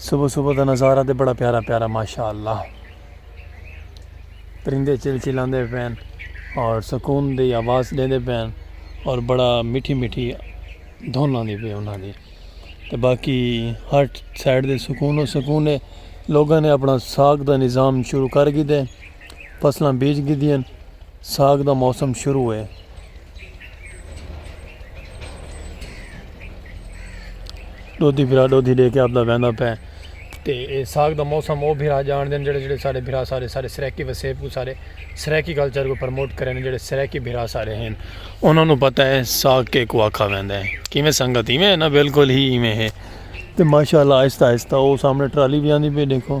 صبح صبح دا نظارہ تے بڑا پیارا پیارا ماشاء اللہ پرندے چل چل آندے پین اور سکون دی آواز دے دے پین اور بڑا مٹھی مٹھی دھن آندی پی انہاں دی تے باقی ہر سائڈ دے سکون و سکون ہے لوگاں نے اپنا ساکھ دا نظام شروع کر گی دے فصلاں بیج گھدیاں، ساگ دا موسم شروع ہے۔ ڈودھی بھرا ڈودھی ڈے کے آپدا ویندا پے تے اے ساگ دا موسم او بھرا جان دین جڑے جڑے سارے بھرا سارے سارے سرائیکی وسیب کو سارے سرائیکی کلچر کو پرموٹ کرن جڑے سرائیکی بھرا سارے ہیں انہاں نو پتہ ہے ساگ کے کو آکھا ویندا ہے کیویں سنگت ایویں ہے نا بالکل ہی ایویں ہے تے ماشاءاللہ آہستہ آہستہ او سامنے ٹرالی وی آندی پئی ڈیکھو۔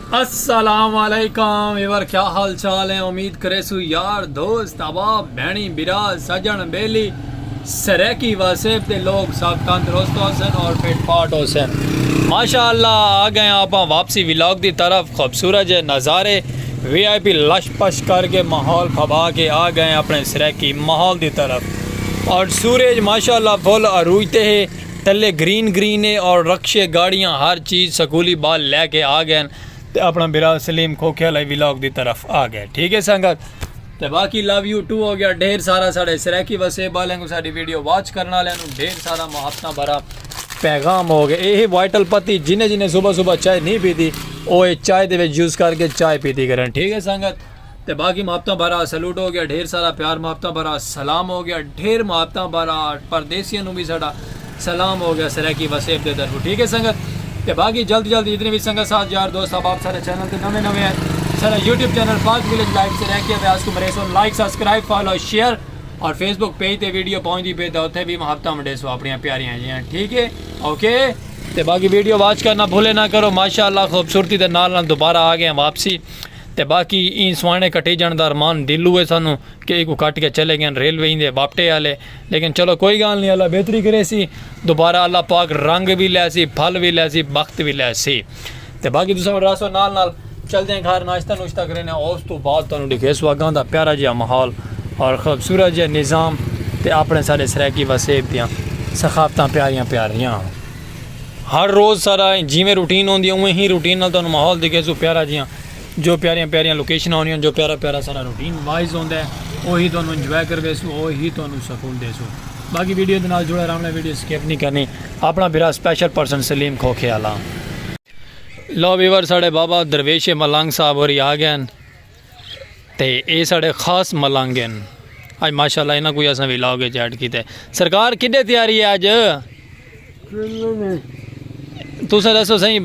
السلام علیکم ویور کیا حال چال ہیں امید کریسو یار دوست احباب بھینی برا سجن بیلی سریکی واسیب دے لوگ سب تندرست ہو سن اور فٹ پاٹ ہو سن ماشاءاللہ آ گئے آپ واپسی ولاگ دی طرف خوبصورت جے نظارے وی آئی پی لش پش کر کے ماحول پھبا کے آ گئے اپنے سریکی ماحول دی طرف اور سورج ماشاءاللہ فل عروج تے ہے تلے گرین گرین اے اور رکشے گاڑیاں ہر چیز سکولی بال لے کے آ گئے ہن تے اپنا بھرا سلیم کھوکھے آلے ولاگ دی طرف آ گئے ٹھیک اے سنگت تے باقی لو یو ٹو ہو گیا ڈھیر سارا ساڈے سرائیکی وسیب آلیاں کو ساڈی ویڈیو واچ کرن آلیاں نو ڈھیر سارا محبتاں بھرا پیغام ہو گئے اے وائٹل پتی جنہیں جنہیں صبح صبح چائے نہیں پیتی او اے چائے دے وچ یوز کر کے چائے پیتی کرن ٹھیک اے سنگت تے باقی محبتاں بھرا سلوٹ ہو گیا ڈھیر سارا پیار محبتاں بھرا سلام ہو گیا ڈھیر محبتاں بھرا پردیسیاں نو بھی ساڈا سلام ہو گیا سرائیکی وسیب دے طرف ٹھیک ہے سنگت تے باقی جلد جلد جتنے بھی سنگت ساتھ یار دوست آپ آپ سارے چینل تے نویں نویں ہیں سارا YouTube channel Pak village life سے رہ کیا ویاس کو مرے سو لائک سبسکرائب فالو شیئر اور فیس بک پیج تے ویڈیو پہنچ دی پہ تے اتنے بھی محبتہ منڈے سو اپنی پیاریاں جی ہیں ٹھیک ہے اوکے تے باقی ویڈیو واچ کرنا بھولے نہ کرو ماشاءاللہ خوبصورتی دے نال نال دوبارہ آ گئے ہیں واپسی تے باقی ایں سواݨے کٹیجݨ دا ارمان دل ہوئے سانوں کہ ایکوں کٹ کے چلے گئن ریلوے ایندے باپٹے آلے لیکن چلو کوئی گالھ نی اللہ بہتری کریسی دوبارہ اللہ پاک رنگ وی لیسی پھل وی لیسی بخت وی لیسی تے باقی تساں ہن رہسو نال نال چلدیاں گھر ناشتہ نوشتہ کرینے اوس توں بعد تانوں ڈکھیسو اگاں دا پیارا جیہا ماحول اور خوبصورت جیہا نظام تے اپنے سارے سرائیکی وسیب دیاں ثقافتاں پیاریاں پیاریاں۔ ہر روز سارا جیویں روٹین ہوندی ہے اوویں ہی روٹین نال تانوں ماحول دکھے سو پیارا جیاں جو پیاریاں پیاریاں لوکیشناں ہوندیاں جو پیارا پیارا سارا روٹین وائز ہوندا ہے اوہی تانوں انجوائے کروے سو اوہی تانوں سکون دے سو باقی ویڈیو دے نال جڑا رہنا ویڈیو سکپ نہیں کرنی اپنا بھرا سپیشل پرسن سلیم کھوکھے والا لو ویور ساڑے بابا درویش ملنگ صاحب ہوری آ گئے ہیں تے اے ساڑے خاص ملنگ ہن اج ماشاءاللہ انہاں کوئی اساں وی لاگ اچ ایڈ کیتے سرکار کڈے تیاری ہے اج تساں دسو سہی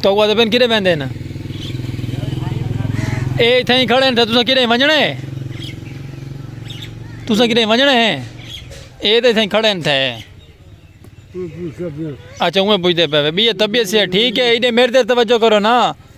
تو کو دے پن کڈے ویندے نا اے ایتھے ہی کھڑے ہیں تساں کڈے ونجنے تساں کڈے ونجنے ہیں اے تے ایتھے کھڑے ہیں تھے اچھا اوے پوچھتے پے بی طبیعت سے ٹھیک ہے ایڈے میرے تے توجہ کرو نا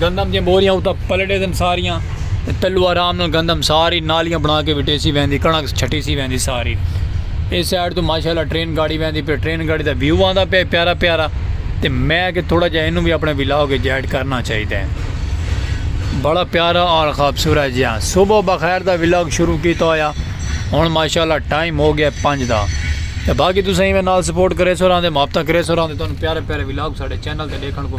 گندم دیاں بوریاں اتا پلے ڈے دن ساریاں تے تلو آرام نال گندم ساری نالیاں بنا کے وٹے سی ویندی کنک چھٹی سی ویندی ساری اے سائیڈ تو ماشاءاللہ ٹرین گاڑی ویندی پے ٹرین گاڑی دا ویو آندا پے پیارا پیارا تے میں کہ تھوڑا جا اینو بھی اپنے ولاگ وچ ایڈ کرنا چاہیدا ہے بڑا پیارا اور خوبصورت جہاں صبح بخیر دا ولاگ شروع کیتا ہویا ہن ماشاءاللہ ٹائم ہو گیا 5 دا تے باقی تسیں ایویں نال سپورٹ کرے سو راندے محبت کرے سو راندے تانوں پیارے پیارے ولاگ ساڈے چینل تے دیکھن کو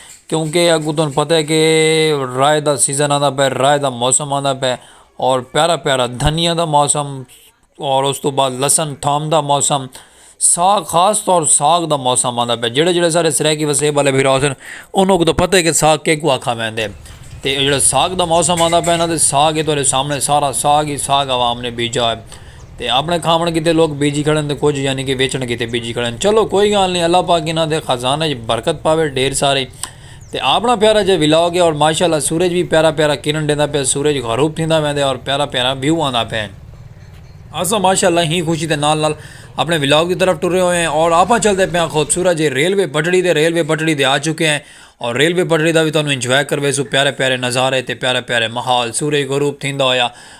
کیونکہ اگوں تہاں پتہ ہے کہ راہ دا سیزن آندا پئے راہ دا موسم آندا پئے اور پیارا پیارا دھنیا دا موسم اور اس تو بعد لسن تھام دا موسم ساگ خاص طور ساگ دا موسم آندا پئے جیڑے جیڑے سارے سرائیکی وسیب والے بھرا ہوسن انہوں کو تو پتہ ہے کہ ساگ کہہ کو آکھا ویندے تے جیڑا ساگ دا موسم آندا پئے نا تے ساگ ہی تہاڈے سامنے سارا ساگ ہی ساگ عوام نے بیجا ہے تے آپݨے کھاوݨ کیتے لوک بیجی کھڑن تے کجھ یعنی کہ ویچݨ کیتے بیجی کھڑن چلو کوئی گالھ نی اللہ پاک انہاں دے خزانہ اچ برکت پاوے ڈھیر ساری تے آپݨا پیارا جیہا ولاگ ہے اور ماشاءاللہ سورج وی پیارا پیارا کرن ݙیندا پئے سورج غروب تھیندا ویندے اور پیارا پیارا ویو آندا پئے اساں ماشاءاللہ ہی خوشی دے نال نال اپݨے ولاگ دی طرف ٹرے ہوئے ہیں اور آپاں چلدے پئے آں خوبصورت جیہی ریلوے پٹڑی تے ریلوے پٹڑی تے آ چکے ہیں اور ریلوے پٹڑی دا وی تہاݙوں انجوائے کرویسوں پیارے پیارے نظارے تے پیارے پیارے ماحول سورج غروب تھیندا ہویا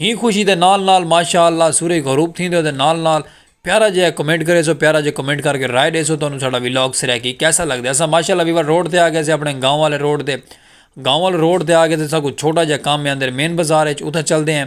ہی خوشی دے نال نال ماشاء اللہ سورج غروب تھیندے اودے نال نال پیارا جہا کمنٹ کرے سو پیارا جہا کمنٹ کر کے رائے دے سو تانوں ساڈا ولاگ سرائیکی کیسا لگ دے اسا ماشاء اللہ ویور روڈ تے آ گئے سے اپنے گاؤں والے روڈ تے گاؤں والے روڈ تے آ گئے سے ساکو چھوٹا جہا کام ہے اندر مین بازار ہے اتھا چل دے ہیں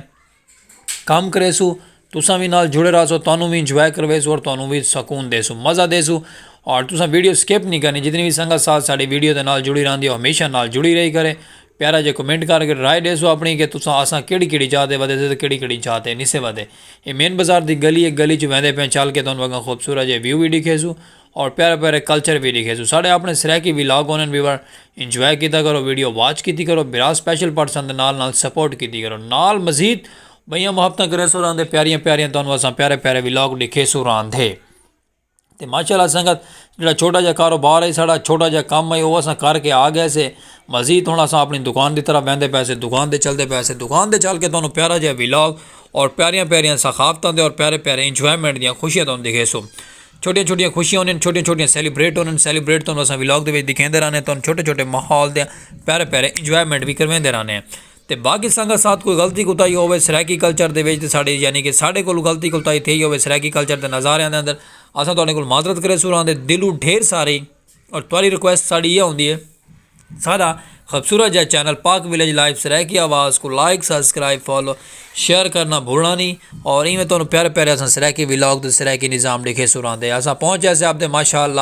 کام کرے سو تساں وی نال جڑے رہا سو تانوں وی انجوائے کروے سو اور تانوں وی سکون دے سو مزہ دے سو اور تساں ویڈیو سکپ نہیں کرنی جتنی وی سنگت ساتھ ساڈی ویڈیو دے نال جڑی رہندی ہے ہمیشہ نال جڑی رہی کرے پیارا جے کمنٹ کر کے رائے ڈیسو اپنی کہ تساں آساں کیڑی کیڑی جاہ تے ودے سے تے کیڑی کیڑی جاہ تے نسے ودے اے مین بازار دی گلی ہے گلی چ ویندے پیاں چل کے تانوں اگاں خوبصورت جے ویو وی ڈیکھیسو اور پیارے پیارے کلچر وی ڈیکھیسو ساڈے اپنے سرائیکی ولاگ ہونن ویور انجوائے کیتا کرو ویڈیو واچ کیتی کرو بھرا سپیشل پارٹ سن دے نال نال سپورٹ کیتی کرو نال مزید بئیاں محبتاں کریسو راہندے پیاریاں پیاریاں تانوں آساں پیارے پیارے ولاگ ڈیکھیسو راہندے۔ تے ماشاء اللہ سنگت جیڑھا چھوٹا جیہا کاروبار ہے ساڑھا چھوٹا جیہا کم ہے او اساں کر کے آ گئے سے مزید ہن اساں اپݨی دکان دی طرف ویندے پئے سے دکان تے چلدے پئے سے دکان تے چل کے تہاݙوں پیارا جیہا ولاگ اور پیاریاں پیاریاں ثقافتاں دے اور پیارے پیارے انجوائمنٹ دیاں خوشیاں تہاݙوں ݙیکھیسوں چھوٹیاں چھوٹیاں خوشیاں ہوندین چھوٹیاں چھوٹیاں سیلیبریٹ ہوندین سیلیبریٹ تہاݙوں اساں ولاگ دے وچ ݙیکھیندے رہنے تہاݙوں چھوٹے چھوٹے ماحول دیاں پیارے پیارے انجوائمنٹ وی کرواندے رہنے ہیں تے باقی سانگاں ساتھ کوئی غلطی کوتاہی ہووے سرائیکی کلچر دے وچ تے ساڈی یعنی کہ ساڈے کولوں غلطی کوتاہی تھئی ہووے سرائیکی کلچر دے نظاریاں دے اندر اساں تہاڈے کول معذرت کریسوں راں دے دلوں ڈھیر ساری اور تہاڈی ریکویسٹ ساڈی ایہا ہوندی ہے ساڈا خوبصورت جیہا چینل پاک ولیج لائیو سرائیکی آواز کوں لائک سبسکرائب فالو شیئر کرنا بھولنا نی اور ایویں تہاڈوں پیارے پیارے اساں سرائیکی ولاگ تے سرائیکی نظام ڈیکھیسوں راں دے اساں پہنچ جیسے آپ دے ماشاءاللہ